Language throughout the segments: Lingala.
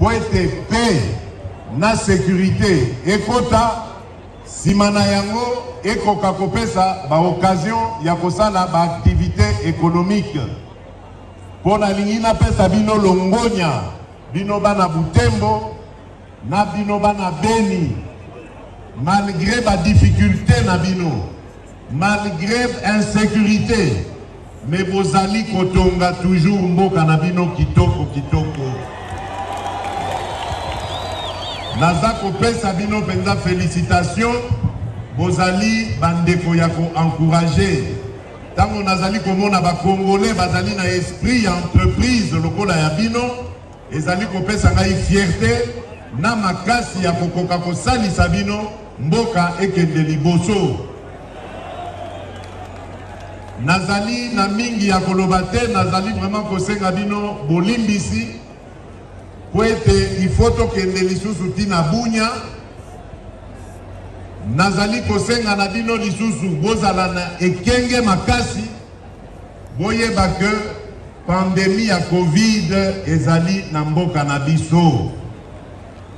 mpo ete paix na securite ekota nsima na yango ekoka kopesa baoccasion ya kosala baaktivite ekonomike mpo nalingi napesa bino longonya bino bana butembo na bino bana beni malgre badifikulte na bino Malgre insecurite mais bozali kotonga toujours mboka na bino kitoko kitoko. Naza kopesa bino penza felicitation bozali bandeko ya ko encourager. Tango nazali komona ba congolais bazali na esprit ya entreprise lokola ya bino Ezali kopesa ngai fierte na makasi ya kokoka kosalisa bino mboka ekende liboso. Nazali na mingi ya koloba te, nazali vraiment kosenga bino bolimbisi mpo ete ifo tokende lisusu ti na bunya. Nazali kosenga na bino lisusu bozala na ekenge makasi, boyeba ke Pandemie ya covid ezali na mboka na biso.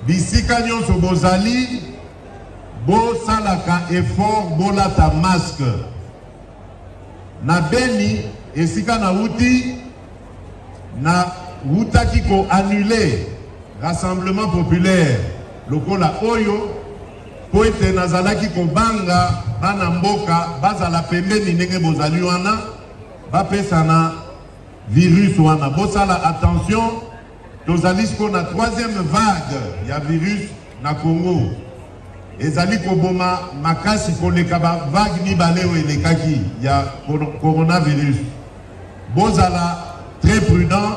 Bisika nyonso bozali, bosalaka effort bolata masque. Na Beni, esika na wuti, na wutaki ko annuler rassemblement populaire lokola oyo mpo ete nazalaki kobanga bana mboka bazala pembeni ndenge bozali wana bapesana virus wana bosala attention tozali sikoyo na troisième vague ya virus na congo ezali koboma makasi koleka bavague mibale oyo elekaki ya coronavirus bozala très prudent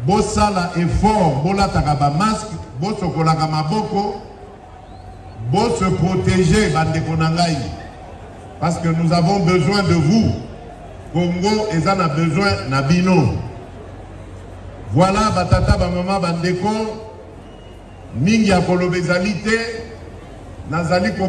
bosala effort bolataka bamaske bosokolaka maboko Bo se proteger ba ndeko na ngai parce que nous avons besoin de vous. Congo eza na besoin na bino. Voilà ba tata ba mama ba ndeko mingi ya koloba ezali te nazali ko